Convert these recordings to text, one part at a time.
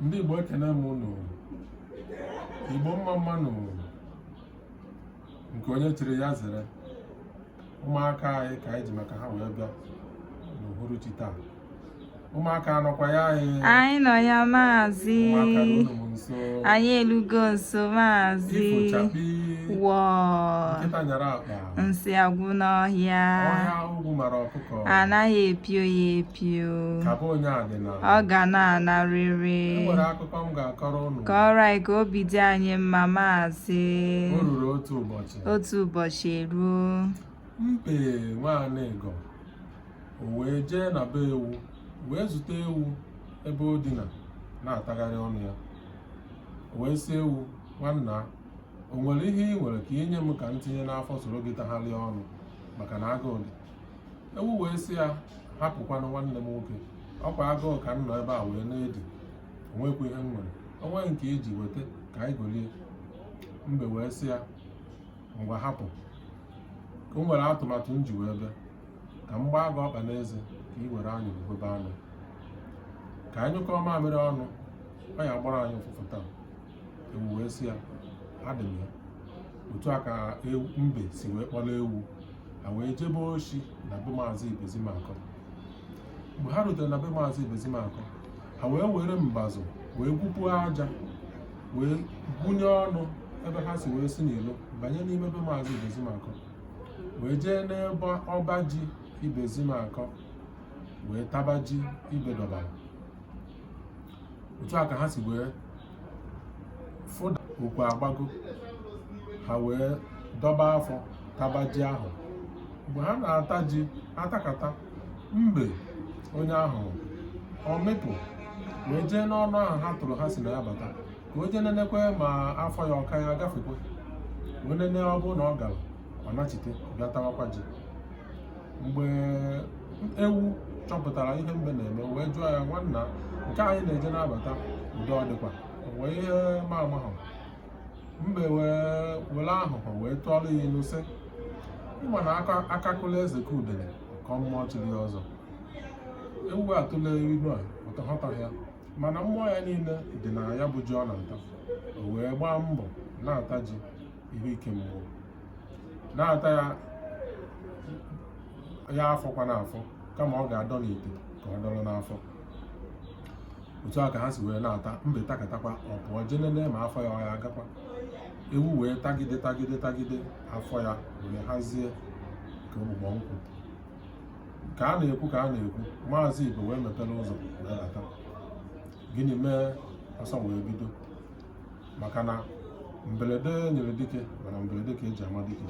ndị Igbo ekene m unu Igbo mma mma nụ nke onye chiri ya zere ụmụaka anyị ka anyị ji maka ha wee bịa n'uhuruchi taa ụmụaka anọkwa ya anyị anyị nọ ya maazị anyị elugo nso maazị ifo chakpii wọọ nsị agwụ n'ọhịa ọhịa ogwu mara ọkụkọ anaghị epio ya epio ọ ga na-anarịrị e nwere akụkọ m ga-akọrọ unu kọrọ anyị ka obi dị anyị mma maazị o ruru otu ụbọchị otu ụbọchị eruo mbe nwa anịga o wee jee na be ewu wee zute ewu ebe o dina na-atagharị ọnụ ya o wee sị ewu nwanna o nwere ihe ị nwere ka i nye m ka m tinye n'afọ soro gị tagharịa ọnụ maka na agụụ dị ewu wee sị ya hapụkwanụ nwanne m nwoke ọ kwa agụụ ka m nọ ebe a wee na-edi o nwekwa ihe m nwere o nweghị nke iji weta ka anyị golie mbe wee sị ya ngwa hapụ o nwere atụmatụ m ji wee bịa ka m gbaa gị ọkpa n'eze ka ị were anyị gwebe anụ ka anyị nyụkọọ mamịrị ọnụ ọ ya gbọrọ anyị ụfụfụ taa ewu wee sị ya adị m ya otu a ka mbe si wee kpọrọ ewu ha wee jebe oshi na be maazị ibezimakọ mgbe ha rutere na be maazị ibezimakọ ha wee were mbazụ wee gwupuo aja wee gwunye ọnụ ebe ha si wee si n'ilo banye n'ime be maazị ibezimakọ wee jee n'ebe ọba ji ibezimakọ wee taba ji ibe dọbara otu a ka ha si wee fụda okwu agbago ha wee dọba afọ taba ji ahụ mgbe ha na-ata ji atakata mbe onye aghụghọ mịpụ wee jee n'ọnụ ahụ ha tụrụ ha si na ya bata ka o jee nenekwe ma afọ ya ọ ka ya gafekwe wee nene ọ bụrụ na ọ gara ọ nachite bịa tawakwa ji mgbe ewu chọpụtara ihe mbe na-eme wee jụọ ya nwanna nke a ị na-eje na-abata udo ọ dịkwa wee ihe ma ama ha mbe wee were aghụghọ wee tụọrọ ya ilu sị ị ma na akakụla eze ka udele ka mmụọ chiri ya ọzọ ewu atụle ilu a ọ ghọtaghị ya mana mmụọ ya niile dị na ya bụ ji ọ na-ata o wee gbaa mbọ na-ata ji ihe ike mmụọ na-ata ya afọkwa n'afọ kama ọ ga-adọ n'ite ka ọ dọrọ n'afọ otu a ka ha si wee na-ata mbe takatakwa ọ pụọ je nene ma afọ ya ọ ya-agakwa ewu wee tagide tagide tagide afọ ya wee hazie ka ogbugbo nkwụ ka a na-ekwu ka a na-ekwu maazị Ibe wee mepere ụzọ wee bata gịnị mee ọsọ wee bido maka na mberede nyiri dike mana mberede ka e ji ama dike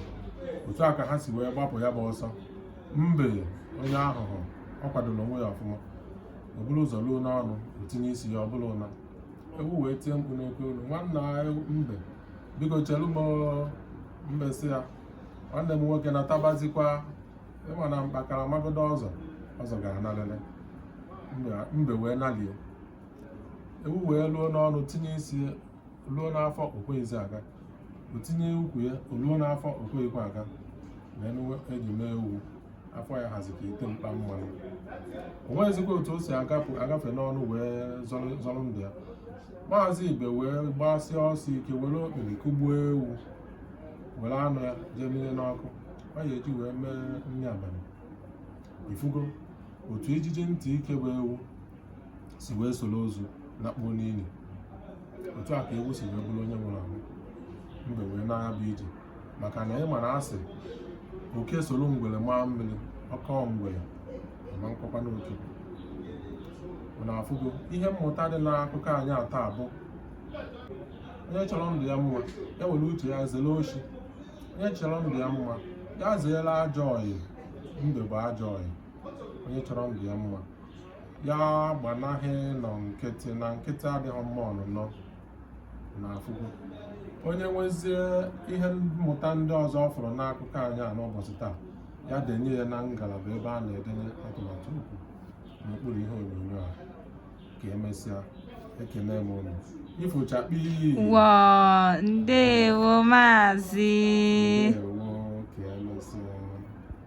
otu a ka ha si wee gbapụ ya bụ ọsọ mbe onye aghụghọ ọ kwadoro onwe ya ọfụma o buru ụzọ luo n'ọnụ o tinye isi ya ọ bụlụ ụna ewu wee tie mkpu n'oke olu nwanna mbe biko chere m mbe sị ya nwanne m nwoke na-atabazikwa ị ma na mkpakara magodo ọzọ ọzọ gara na lele mbe wee nalie ewu wee luo n'ọnụ tinye isi ya luo n'afọ o kweghịzi aga o tinye ụkwụ ya o luo n'afọ o kweghịkwa aga wee nụwe eji mee ewu afọ ya hazi ka ite mkpa mmanụ o nweghịzikwa otu o si agapụ agafe n'ọnụ wee zọrọ zọrọ ndụ ya maazị Ibe wee gbasịa ọsọ ike were okpiri kụgbuo ewu were anụ ya jee mịnye n'ọkụ ọ ya e ji wee mee nri abalị ị fụgo otu ijiji ntị ike bụ ewu si wee soro ozu lakpuo n'ili otu a ka ewu si wee bụrụ onye nwụrụ anwụ mbe wee naa ya bụ ije maka na ị ma na a sị oke soro ngwere maa mmiri ọ kọọ ngwere ọ ma akọkwanụ oke ụnụ afụgo ihe mmụta dị n'akụkọ anyị a taa bụ onye chọrọ ndụ ya mma ya were uche ya zere oshi onye chọrọ ndụ ya mma ya zeere ajọ ọyị mbe bụ ajọ ọyị onye chọrọ ndụ ya mma ya gbanaghị ịnọ nkịtị na nkịtị adịghị mma ọnụnọ ụnụ afụgo onye nwezie ihe mmụta ndị ọzọ ọ fụrụ n'akụkọ anyị a n'ụbọchị taa ya denye ya na ngalaba ebe a na-edenye atụmatụ okwu n'okpuru ihe onyonyo a ka e mesịa ekene m ụnụ ifo chakpii ndewo maazị